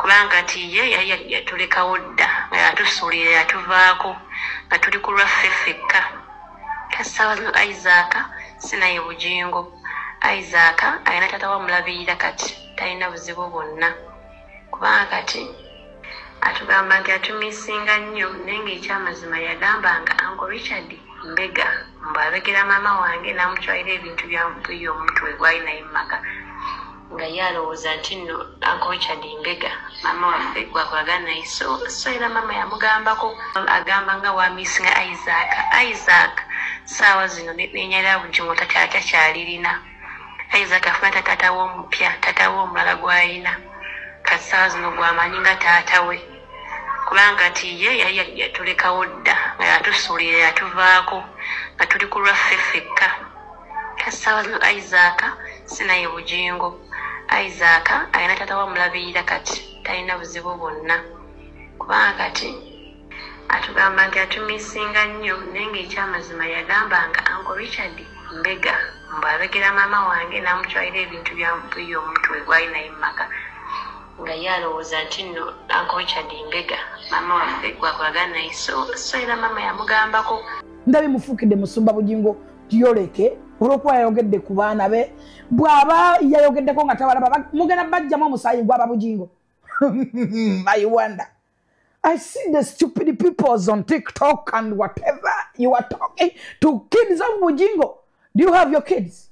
kubanga nti ye yali yatulekawo dda nga yatusuulira yatuvaako nga tuli ku lwaffe ffekka kasawazo isaaka sinaye bugingo isaaka alina taata wamulabirira kati talina buzibu bwonna kubanga kati atugamba nti atumisinga nnyo naye ngaekyamazima yagamba nga ango richard mbega mbwabegera maama wange namutwalira ebintu byamutuyo omutwe gwali naye mumaka nga ye alowooza nti nno ankochard mbega maama waffe gwakulaga naye so so era maama yamugambako agamba nga wamisinga isaac isaac saawa zino nenyalira bugimu takyakya kyalirina isaac afuna tatata we omupya tata we omulala gwalina kati saawa zino gwamanyi nga taata we kubanga ti ye yali yatulekawo dda nga yatusuulira yatuvaako nga tuli ku lwaffe fekka kasabalu isaaka sinaye bujingo isaaka alina tata wamulabirira kati talina buzibu bwonna kubanga kati atugamba nti atumisinga nnyo naye ngaekyamazima yagamba nga anko richard mbega mbu abegera maama wange namutwalira ebintu byamutuyo omutwe gwali naye mumaka nga ye alowooza nti nno anko richard mbega maama waffe gwakwagala naye so era maama yamugambako ndabimufuukidde musumba bugingo yoleke olwokuba yayogedde ku baana be bwaba yayogeddeko nga tabalaba mugenda bajjamu omusaayi gwaba bugingo i wonder i see the stupid peoples on tiktok and whatever you are talking to kids of bugingo do you have your kids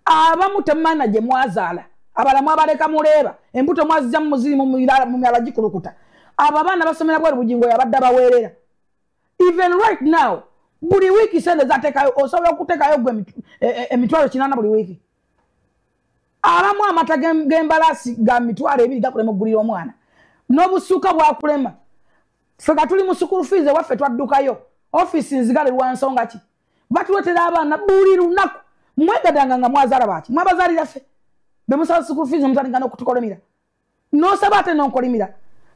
abamu temana gye mwazaala abalamu abaleka muleeba embuto mwazija mumuziri mumyala gikulukuta abo abaana basomera bwali bugingo yabadde abaweerera even right now buli wiiki sente zatekayo osobola okutekayo gwe e, e, emitwalo kinana buli wiiki abamu amata gembalaasi ga mitwalo ebiri gakulema okugulira omwana n'obusuuka bwakulema fe nga tuli mu sukulu fiizi ewaffe twaddukayo ofiisi nzigale lwansonga ki batuletera abaana buli lunaku mwegadanga nga mwazaala baaki mwabazaalira ffe bemusaba sukulu fiizi omutandika n'okutukolemira nosaba ate nonkolimira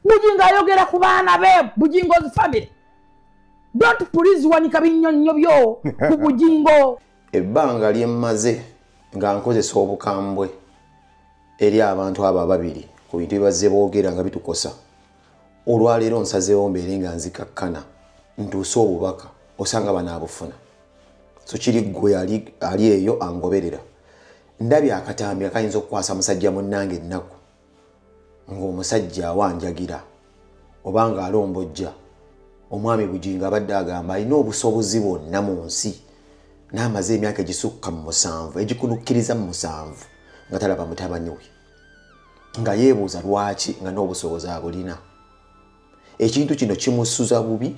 bujingo ayogera ku baana be bujingo's family don't please wanika binyonnyo byo ku bujingo ebbanga lyemmaze nga nkozesa obukambwe eri abantu abo ababiri ku bintu bibazze boogera nga bitukosa olwaleero nsazeewo mbeere nga nzikakkana ntuuse obubaka osanga banaabufuna so kiri ggwe ali eyo angoberera ndabye akatambi akayinza okukwasa musajja munnange ennaku ng'omusajja awanjagira oba ng'alombojja omwami bugingo abadde agamba alina obusobozi bwonna mu nsi n'amaze emyaka egisukka mu musanvu egikunukkiriza mu musanvu nga talaba mutabani we nga yeebuuza lwaki nga n'obusobozi abulina ekintu kino kimusuza bubi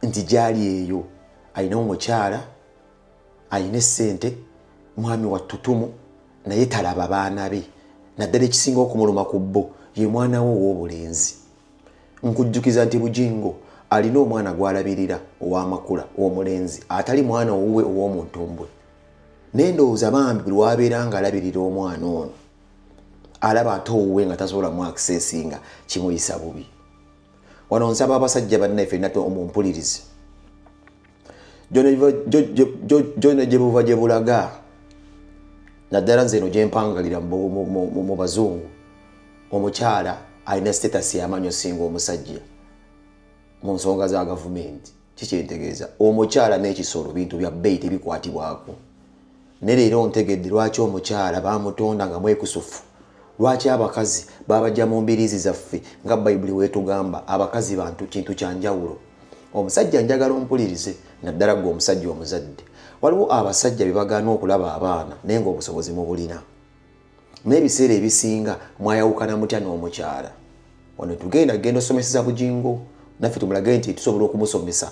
nti gyali eyo alina omukyala alina esente mwami wa tutumu naye talaba baana be naddala ekisinga okumuluma ku bo ye mwana wo ow'obulenzi nkujjukiza nti bujingo alina omwana gw'alabirira ow'amakula ow'omulenzi atali mwana owuwe ow'omuntumbwe naye ndowooza bambi buli wabeera nga alabirira omwana ono alaba ate owuwe nga tasobola mu akisesinga kimuyisa bubi wano nsaba abasajja bannaffe nate omumpulirizi gyona gye buva gye bulaga naddala nze eno gye mpangalira mu bazungu omukyala alina sitatasi yamanyi osinga omusajja mu nsonga za gavumenti kikyentegeeza omukyala n'ekisolo bintu bya bbeeyi tebikwatibwako ne leero ntegedde lwaki omukyala bamutonda nga mwekusufu lwaki abakazi babajja mu mbiriizi zaffe nga bayibuli weetugamba abakazi bantu kintu kya njawulo omusajja njagala ompulirize naddala gwe omusajja omuzadde waliwo abasajja bye bagaana okulaba abaana naye ngaobusobozi mubulina naye ebiseera ebisinga mwayawukana mutya n'omukyala wano tugenda genda osomeseza bujingo naffe tumulage nti tusobola okumusomesa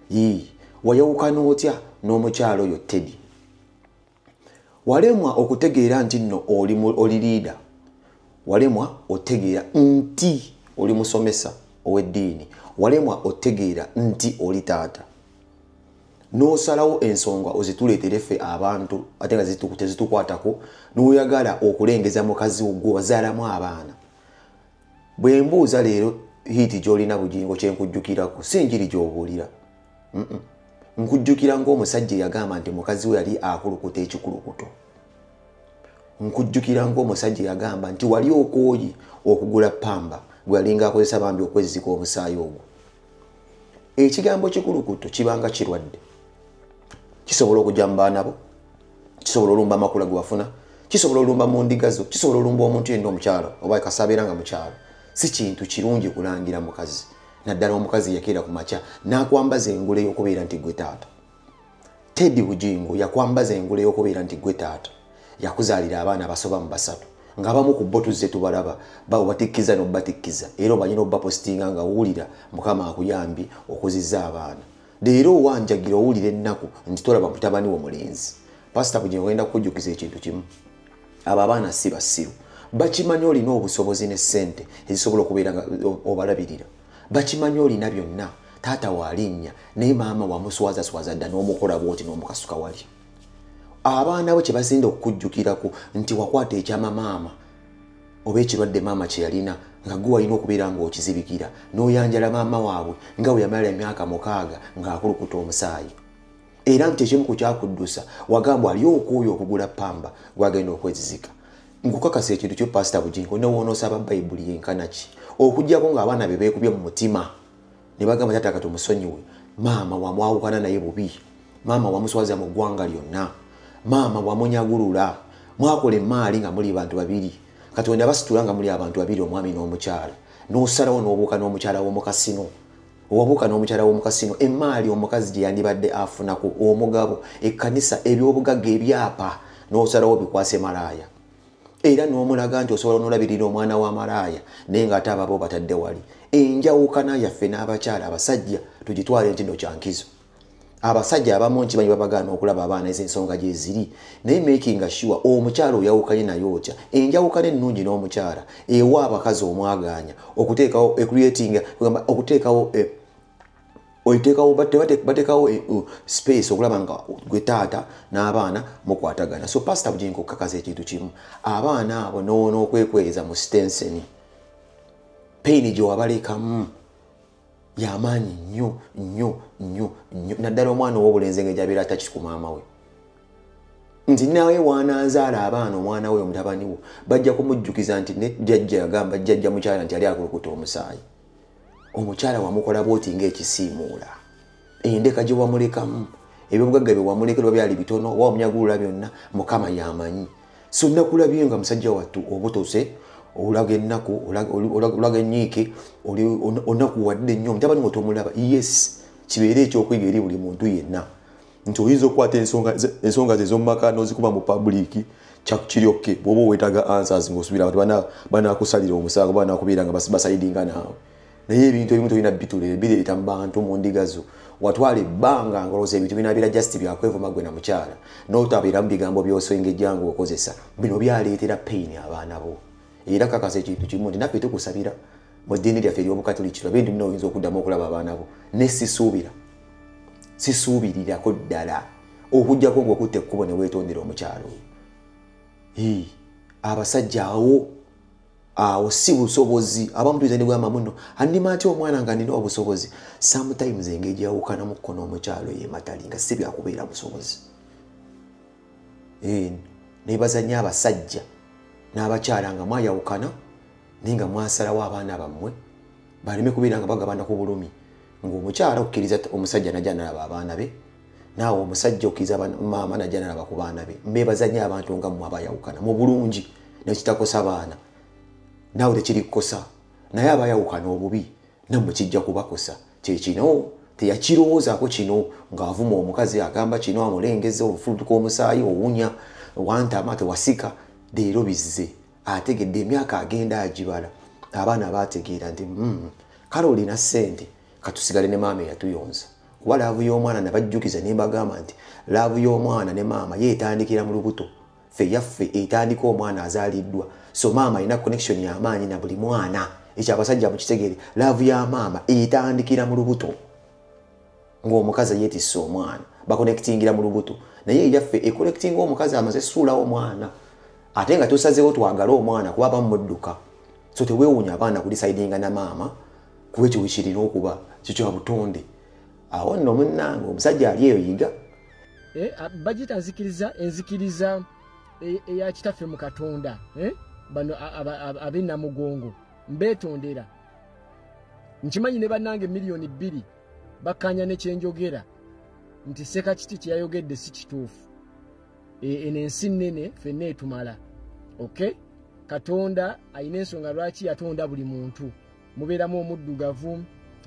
yii wayawukana otya n'omukyala oyo tedi walemwa okutegeera nti nno oli liida walemwa otegeera nti oli musomesa ow'eddiini walemwa otegeera nti oli taata n'osalawo ensonga ozituleetere ffe abantu ate nga tezitukwatako n'oyagala okulengeza mukazi wo gwe wazaalamu abaana bwe mbuuza leero hiiti gy'olina bugingo kye nkujjukirako si njiri gy'obuulira nkujjukira ng'omusajja eyagamba nti mukazi we yali akulukuta ekikulukuto nkujjukira ng'omusajja eyagamba nti wali okooye okugula pamba gwe yalinga akozesa bambi okwezzika omusaayi ogwo ekigambo kikulukuto kibanga kirwadde kisobola okujja mu baana bo kisobola olumba amakula ge wafuna kisobola olumba mu ndiga zo kisobola olumba omuntu yenda omukyalo oba kasabeera nga mukyalo si kintu kirungi kulangira mukazi naddala omukazi yakeera ku makya n'akwambaza engule y'okubeera nti gwe taata tedi bujingo yakwambaza engule yokubeera nti gwe taata yakuzaalira abaana abasoba mu basatu ngabamu ku bo tuzze tubalaba babatikkiza nobatikkiza era omanyi nobapositinga nga owulira mukama akuyambye okuziza abaana leero owanjagira owulira ennaku nti tolaba mutabani wo mulenzi pasita bujingo ogenda kukujjukiza ekintu kimu abo abaana si basiru bakimanyi olina obusobozi ne sente ezisobola okubeera obalabirira bakimanyi olina byonna taata walinnya naye maama wamuswazaswaza dda n'omukola bwoti n'omukasuka wali abaana bo kye basinda okukujjukirako nti wakwata ekyama maama oba ekirwadde maama kye yalina nga gwe walina okubeera ng'okizibikira n'oyanjala maama waabwe nga bwe yamala emyaka mukaaga ng'akulukuta omusaayi era nti ekimu ku kyakuddusa wagambwa ali okwoyo okugula pamba gwagenda okwezizika nkukakasa ekintu kyo pasita bujingo newoonosaba bayibuli yenkanaki okujjako ng'abaana be beekubye mu mutima ne bagamba taata kati omusonyiwe maama wamwawukana naye bubi maama wamuswaza mu ggwanga lyonna maama wamunyagulula mwakola emaali nga muli bantu babiri katonda basitula nga muli abantu babiri omwami n'omukyala n'osalawo n'obuuka n'omukyala w'omukasino owabuuka n'omukyala w'omukasino emaali omukazi gye yandibadde afunaku omugabo ekkanisa ebyobugagga ebyapa n'osalawo bikwase malaaya era n'omulaga nti osobola n'olabirira omwana wa malaaya naye ng'ate ababo batadde wali enjawukana yaffe n'abakyala abasajja tugitwale nti no kyankizo abasajja abamu nkimanyi babagaana okulaba abaana ezensonga gyeziri naye making sure omukyala oyawukanye naye otya enjawukana ennungi n'omukyala ewa abakazi omwagaanya okuteekawo ecreatinga gamba okuteekawo e, oiteekawo bateekawo e, space okulaba nga gwe taata n'abaana mukwatagana so pasita bujinka okukakaza ekintu kimu abaana abo noona okwekweza mu stenseni payini gyewabalekamu yamaanyi nnyo nnyo nnyo nnyo naddala omwana ow'obulenzi nga gyabeera atakisi ku maama we nti nawe waananzaala abaana omwana we omutabani wo bajja kumujjukiza nti ne jjajja yagamba jjajja mukyala nti yali akulukuta omusaayi omukyala wamukola bwoti ngaekisiimuula endeka gye wamulekamu ebyobugagga bye wamuleka lwa byali bitono oba wamunyagulula byonna mukama yamanyi so nakulabye nga musajja wattu obutose olaga ennaku olaga enyiike onakuwadde nnyo mutabani nga tomulaba yes kibeere ekyokuyiga eri buli muntu yenna nti oyinza okukwata ensonga ze ezomumaka nozikuba mu pabuliiki kyakukiryokke bwoba owetaga answers ngaosubira abantu banakusalira omusango banakubeera nga basaidinga naawe naye ebintu ebimu tolina bitula ebire bita mubantu mu ndiga zo watwala ebbanga ngolowooza ebintu binabira just byakwevuma gwe na mukyala notabeera mu bigambo byosengejja nga okozesa bino byaleetera pain abaana bo era kakasa ekintu kimu nti naffe tukusabira mu ddiini lyaffe eryobukatuliki tulabe nti muna oyinza okuddamu okulaba abaana bo ne sisuubira sisuubirirako ddala okujjako ngaokutta ekkubo ne weetondera omukyalo oyo abasajja awo awo si busobozi abamu tuyinza negamba muno andima atya omwana nga nina obusobozi sometimes engeri gyeyawukana mu kkono omukyalo yematali nga si byakubeera busobozi eh, nebazanya abasajja n'abakyala nga mwayawukana naye nga mwasalawo abaana bammwe baleme kubeera nga bagabana ku bulumi ngaomukyala okukkiriza omusajja naja nalaba abaana be naawe omusajja okiriza maama najja nalaba ku baana be mbeebaza nyo abantu nga mmwe abayawukana mu bulungi nekitakosa baana naawe tekirikukosa naye abayawukana obubi nammwe kijja kubakosa kyekino teyakirowoozaako kino ng'avuma omukazi agamba kino amulengeza obufulutuka omusaayi owunya wantama tewasika leero bizze ategedde emyaka agenda agibala abaana baategeera nti hmm, kale olina ssente katusigale ne maama eyatuyonza kuba laavu y'omwana nabajjukiza ne mbagamba nti laavu y'omwana ne maama ye etandikira mu lubuto ffe yaffe etandika omwana azaaliddwa so maama alina connection y'amaanyi na buli mwana ekyo abasajja mukitegeere laavu ya maama etandikira mu lubuto ng'omukazi yeetisse omwana bakonekitingira mu lubuto naye eyaffe ekonekitinga omukazi amaze suulawo omwana ate nga tusazeewo twagale omwana kuba bamudduka so teweewuunya abaana kulisaidinga na maama kuba ekyo wekirina okuba kikya butonde awo nno munnange omusajja ali eyo yiga eh, bajita nzikiriza enzikiriza e, eya kitaffe mu katonda eh, bano abenamugongo mbeetondera nkimanyi ne bannange miliyoni bbiri bakkaanya nekyenjogera nti seka kiti kyeyayogedde si kituufu e, eno ensi nnene fenna etumala ok katonda alina ensonga lwaki yatonda buli muntu mubeeramu omuddugavu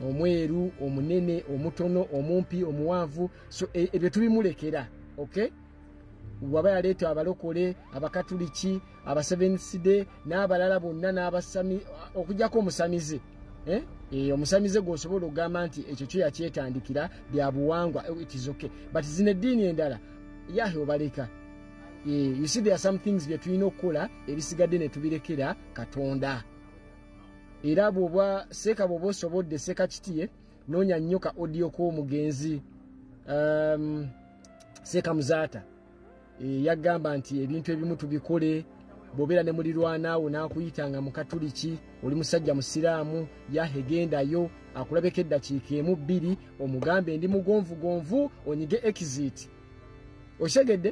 omweru omunene omutono omumpi omuwanvu so e, ebyo tubimulekera ok waba yaleeta abalokole abakatuliki abaseveniside n'abalala bonna n'abasami okujjako omusamize eh? Eh, omusamize gwosobola okugamba nti ekyo kyo yakyetandikira bya buwangwa eh, itizoke but zino eddiini endala yahe obaleka eh, you see there are some things byetulina okukola ebisigadde netubirekera katonda era bwoba seeka bwoba osobodde seeka kitiye noonya nnyo ka odiyo k'omugenzi um, seeka muzaata e, yagamba nti ebintu ebimu tubikole bwobeera ne mulirwanaawo n'akuyita nga mukatuliki oli musajja musiraamu yahegendayo akulabeko eddakiika emu bbiri omugambe ndi mugonvugonvu onyige exit okitegedde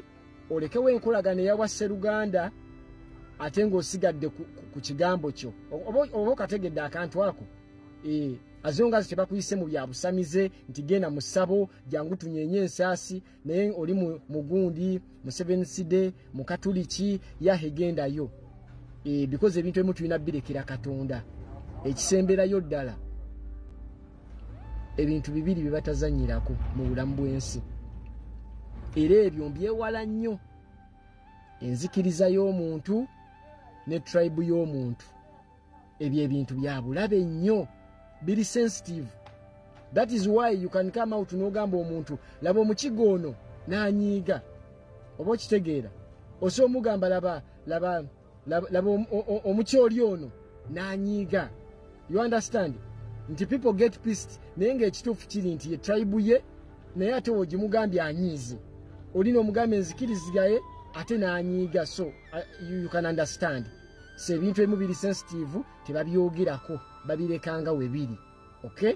olekewo enkolagana eya wasseruganda ate ng'osigadde ku kigambo kyo oba okategedde akantu ako eh, azongazi tebakuyise mu bya busamize nti genda mu ssabo jangu tunyenye ensaasi naye oli mugundi mu seven side mu katuliki yahe gendayo eh, bikoze ebintu ebimu tulina birekera katonda ekisemberayo ddala ebintu bibiri bye batazanyirako mu bulamu bw'ensi era ebyo mbyewala nnyo enzikiriza y'omuntu ne tribe y'omuntu ebyo ebintu bya bulabe nnyo biri sensitive that is why you can come out n'ogamba omuntu laba omukiga ono n'anyiiga oba okitegeera osa omugamba laba laba laba omukyoli ono nanyiiga you understand nti people get pist naye ngaekituufu kiri nti ye tribe ye naye ate wogimugambye anyiize oli nomugambe nzikirizigaye ate nanyiiga so uh, you can understand so ebintu ebimu biri sensitive tebabyogerako babirekanga webiri okay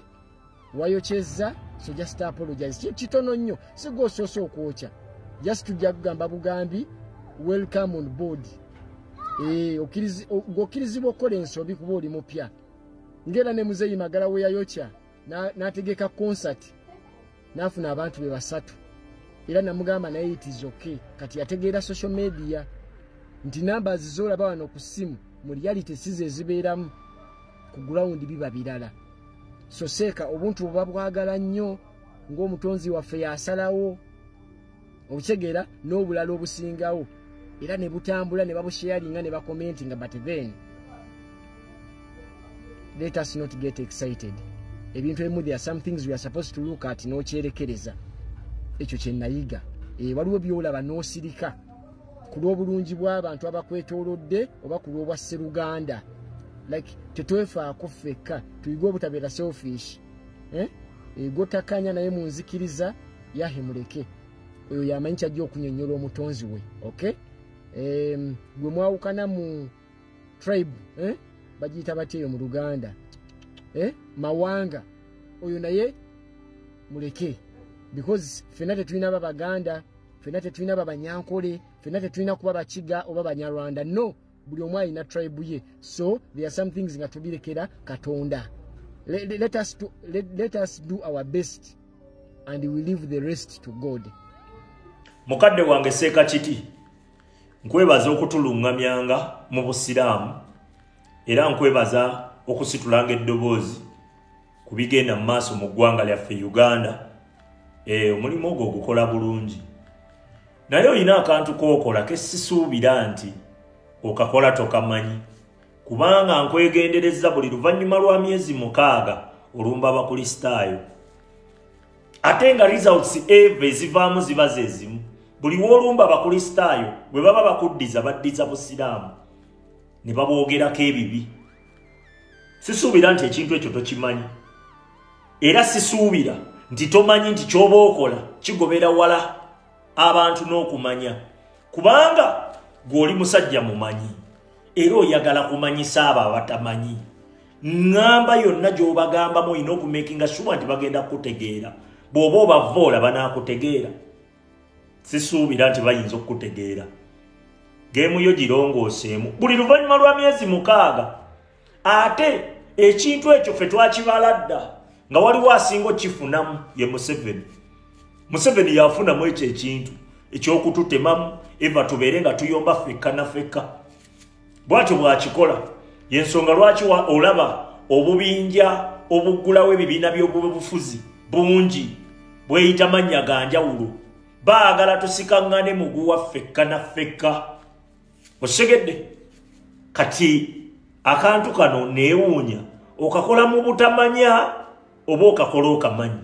wayokyezza so just apologize kintu kitono nnyo sigwa osoose okwokya just tujja kugamba bugambi welcome on board eh, okkirizibwa okukola ensobi kuba oli mupya ngaera ne muzeeyi magala weyayokya n'ategeka konsati n'afuna abantu be basatu era namugamba naye it is okay kati yategeera social media nti namba azizoolaba wano ku ssimu mu reality size ezibeeramu ku gulawundi biba birala so seeka obuntu buba bwagala nnyo ng'omutonzi waffe yasalawo obutegeera n'obulala obusingawo era ne butambula ne babusheyalinga ne bakomenti nga but then let us not get excited ebintu ebimu there are some things we are supposed to look at n'okyerekereza ekyo kye nayiga eh, waliwo byolaba n'osirika ku lw'obulungi bw'abantu abakwetoolodde oba ku lw'obwa sseruganda like tetwefaako ffekka tuyige obutabeera selfish eh? egotakanya naye munzikiriza yahe muleke oyo yamanyi kyajja okunyonyola omutonzi we ok um, gwe mwawukana mu tribe eh? bagiyita batya eyo mu luganda eh? mawanga oyo naye muleke because fena tetulina babaganda fena tetulina babanyankole fena tetulina kuba bakiga oba banyarwanda no buli omu alina tribe ye so there are some things nga tubirekera katonda let, let, us to, let, let us do our best and we leave the rest to god mukadde wange seeka kiti nkwebaza okutuluŋŋamyanga mu busiraamu era nkwebaza okusitulanga eddoboozi ku bigenda mu maaso mu ggwanga lyaffe uganda eh, omulimu ogwo ogukola bulungi naye olina akantu kookola kesisuubira nti okakola tokamanyi kubanga nkwegendereza buli luvannyuma lwa myezi mukaaga olumba abakulisitaayo ate nga results eve ezivaamu ziba zezimu buli woolumba abakulisitaayo bwe baba bakuddiza baddiza busiraamu ne baboogerako ebibi sisuubira nti ekintu ekyo tokimanyi era sisuubira nti tomanyi nti ky'oba okola kigobera wala abantu n'okumanya kubanga gw'oli musajja mumanyi era oyagala kumanyisa abo abatamanyi ŋŋamba yonna gy'obagambamu olina okumekinga suba nti bagenda kukutegeera bw'oba obavoola banaakutegeera sisuubira nti bayinza okukutegeera geemu yo girongooseemu buli luvannyuma lwa myezi mukaaga ate ekintu ekyo fe twakibala dda nga waliwo asinga okifunamu ye museveni museveni yafunamu ekyo ekintu ekyokututemamu eva tubeere nga tuyomba fekka na fekka bwatyo bwakikola yensonga lwaki olaba obubinja obuggulawo ebibiina by'obubufuzi bungi bweyita mannya ga njawulo baagala tusikaŋŋane muguwa fekka na fekka osegedde kati akantu kano neewuunya okakola mu butamanya oba okakola okamanyi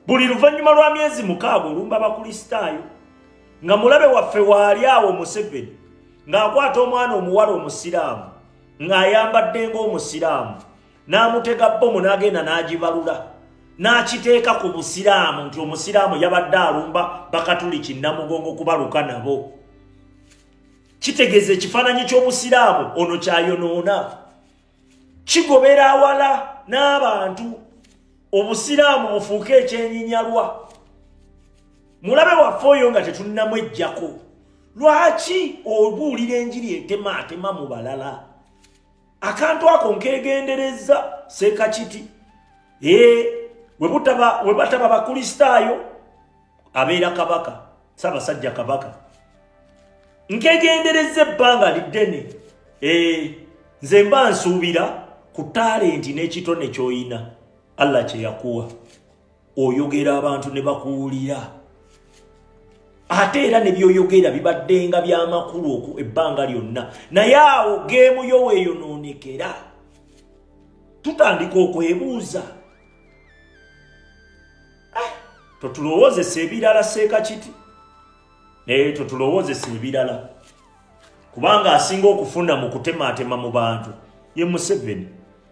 buli luvannyuma lwa myezi mukaaga olumba abakulisitaayo nga mulabe waffe waali awo museveni ng'akwata omwana omuwala omusiraamu ng'ayambadde ng'omusiraamu n'amutega bbomu n'agenda n'agibalula n'akiteeka ku busiraamu nti omusiraamu yabadde alumba bakatuliki namugongo kubaluka nabo kitegeeza ekifaananyi ky'obusiraamu ono kyayonoona kigobera awala n'abantu obusiraamu bufuuke ekyenyinyalwa mulabe waffe oyo nga tetunninamu ejjako lwaki obuulira enjiri etema atema mu balala akantu ako nkegenderezza sekakiti ee webutaba webataba bakristaayo abeera kabaka sabasajja kabaka nkegenderezza ebbanga liddene ee nze mba nsuubira ku talenti n'ekitone ky'oyina allah kye yakuwa oyogera abantu ne bakuwulira ate era ne byoyogera bibaddenga byamakulu oku ebbanga lyonna naye awo geemu yo weeyonoonekera tutandika okwebuuza eh, totulowoozesa ebirala seeka kiti naye totulowoozesa ebirala kubanga asinga okufuna mu kutemaatema mu bantu ye museveni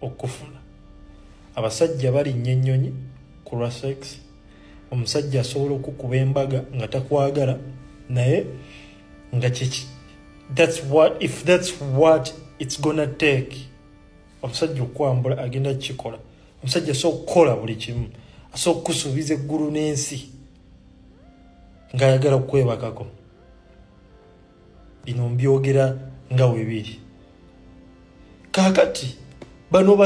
okufuna abasajja balinnya ennyonyi ku lwa sex omusajja asobola okukuba embaga nga takwagala naye nga kyeki that's what if that's what it's gonna take omusajja okukwambula agenda kukikola omusajja asobola okukola buli kimu asobola okukusuubiza eggulu n'ensi ng'ayagala okukwebakako bino mbyogera nga webiri kakati bano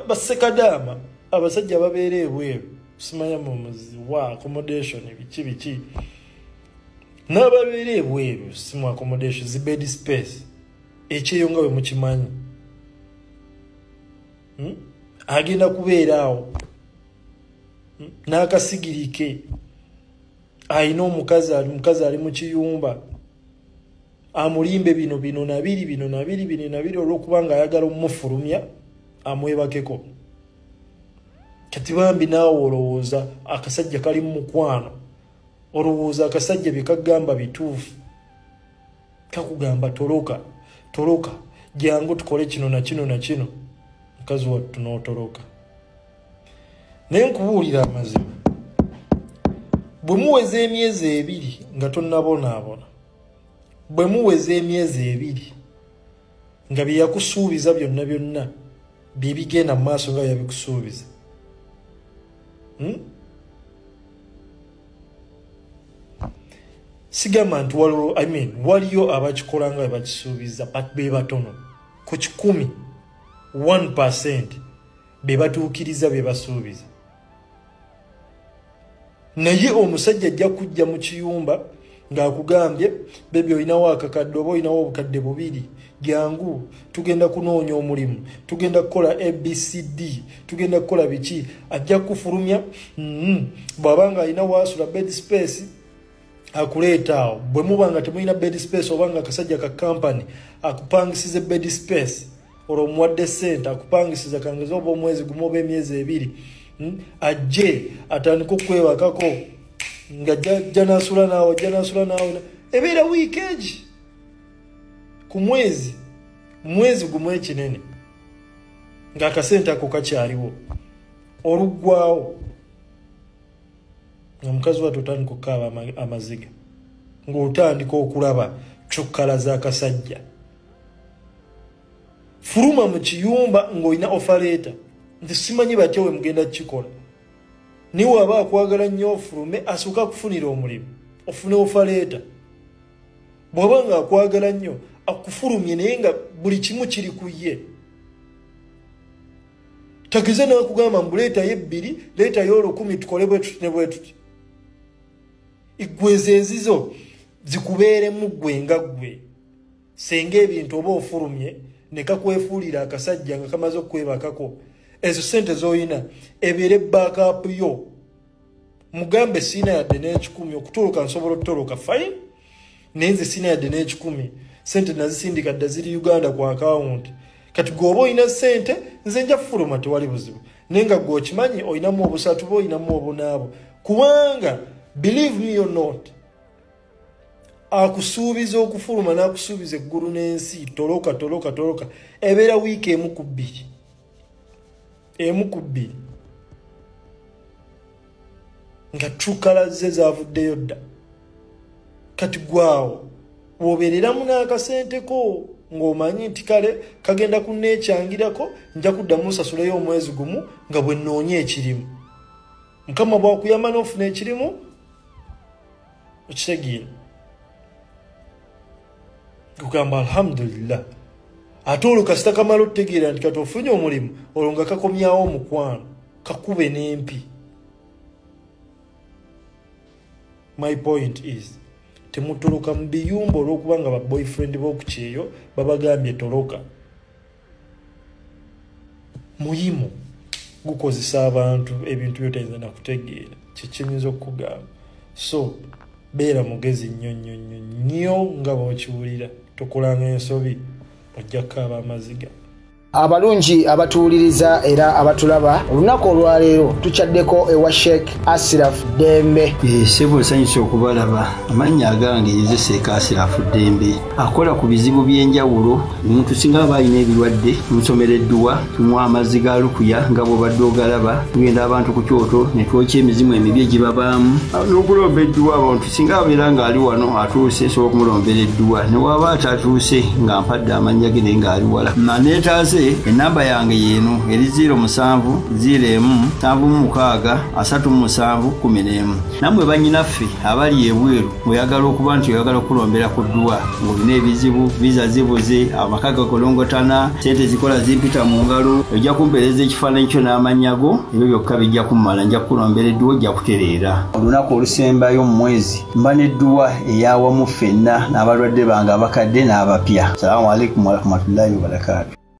basekadaama abasajja babeera ebweru simanya mumuzi wa accommodation biki biki n'ababeera ebweru simu accommodation zibed space ekyeyo nga bwe mukimanyi hmm? agenda kubeera awo hmm? n'akasigirike alina omukazi ali mukazi ali mu kiyumba amulimbe bino bino nabiri bino nabiri bino nabiri olwokuba nga ayagala omufulumya amwebakeko kati bambi naawe olowooza akasajja kali mu mukwano olowooza akasajja byekagamba bituufu kakugamba toloka toloka jangu tukole kino nakino nakino mukazi wattu n'otoloka naye nkubuulira amazima bwe muweza emyezi ebiri nga tonnabonaabona bwe muweza emyezi ebiri nga bye yakusuubiza byonna byonna bye bigenda mu maaso nga yabikusuubiza hmm? sigamba nti waliwo i mean waliyo abakikola nga bebakisuubiza but be batono ku kikumi 1 percent be batuukiriza bye basuubiza naye omusajja ajja kujja mu kiyumba ng'akugambye bebi olinawo akakadde oba olinawo obukadde bubiri jangu tugenda kunoonya omulimu tugenda kukola abcd tugenda kukola biki ajja kufulumya mm-hmm. bw'aba nga alina waasula bed space akuleeta awo bwe muba nga temulina bed space oba nga akasajja ka kampany akupangisiza bed space olwo omuwadde sente akupangisiza kangeza oba omwezi gumu oba emyezi ebiri hmm? ajje atandika okwewakako nga janasula naawe janasula naawe ebeera wiiki egi ku mwezi mwezi gumu ekinene ng'akasente ako kakyaliwo oluggwawo nga mukazi watu otandika okukaaba amaziga ng'otandika okulaba cukkala z'akasajja fuluma mu kiyumba ng'olina ofaleeta nti simanyi batya we mugenda kukikola naye waba akwagala nnyo ofulume asooka kufunira omulimu ofune ofaleeta bw'aba nga akwagala nnyo akufulumye naye nga buli kimu kiri ku ye tageze nakugamba mbu leetayo ebbiri leetayo olukumi tukole bwetuti ne bwetuti eggwezo ezizo zikubeeremu ggwe nga ggwe senga ebintu oba ofulumye nekakwefuulira akasajja nga kamaze okukwebakako ezo sente zoyina ebeere backup yo mugambe siina yadde n'ekikumi okutoloka nsobola okutoloka fine naye nze siina yadde n'ekikumi sente nazisindika dda ziri uganda ku akawunti kati gweoba olina sente nze nja kufuluma tewali buzibu naye nga gwe okimanyi olinamu obusatu bo olinamu obunaabo kubanga believe me or not akusuubiza okufuluma n'akusuubiza eggulu n'ensi toloka toloka toloka ebeera wiiki emu ku bbiri emu ku bbiri nga trukala ze zavuddeyo dda kati gwaawo wobeereramu n'akasenteko ng'omanyi nti kale kagenda kunneekyangirako nja kuddamu nsasuleyo omwezi gumu nga bwe nnoonya ekirimu mukama bwakuyamba n'ofuna ekirimu okitegeera kugamba alhamdulillah ate olwo kasita kamala otutegeera nti kati ofunye omulimu olwo nga kakomyawo omukwano kakube n'empi my point is temutoloka mu biyumba olw'okuba nga baboyfriend b'okukyeyo babagambye toloka muyimu gukozesa abantu ebintu byotayinza nakutegeera kyekinyinza okukugamba so beera mugezi nnyo nnyo nnyo nnyo nga bwokiwulira tokolanga ensobi ojja kukaaba amaziga abalungi abatuwuliriza era abatulaba olunaku olwaleero tukyaddeko ewa sheik asiraf dembe eh, sebo nsanyusa okubalaba amannya agange yezeseeka asiraf dembe akola ku bizibu by'enjawulo omuntu singa aba alina ebirwadde tumusomera edduwa tumuwa amazzi ga lukuya nga bwobadde ogalaba tugenda abantu ku kyoto ne twokya emizimu emibi egibabaamu n'okulomba edduwa abantu singa abeera ng'ali wano atuuse esobola okumulombera edduwa ne waaba atatuuse nga mpadde amannya ge naye ng'ali wala maneetaase ennamba yange yeeno eri ziiro musanvu ziiro emu nsanvu mu mukaaga asatu mu musanvu kumi n'emu nammwe bannyinaffe abali ebweru oyagala okuba nti oyagala okukulombera ku dduwa ng'olina ebizibu viza zibuze amaka gakolongotana sente zikola zimpita mu ngalo ojja kumpeereza ekifaananyi kyo n'amannya go ebyo byokka bijja kummala nja kukulombera edduwa ojja kutereera olunaku olusembayo mu mwezi mba n'edduwa eyawamu ffenna n'abalwadde bange abakadde n'abapya salaamu aleikum warahmatullahi wabarakaatu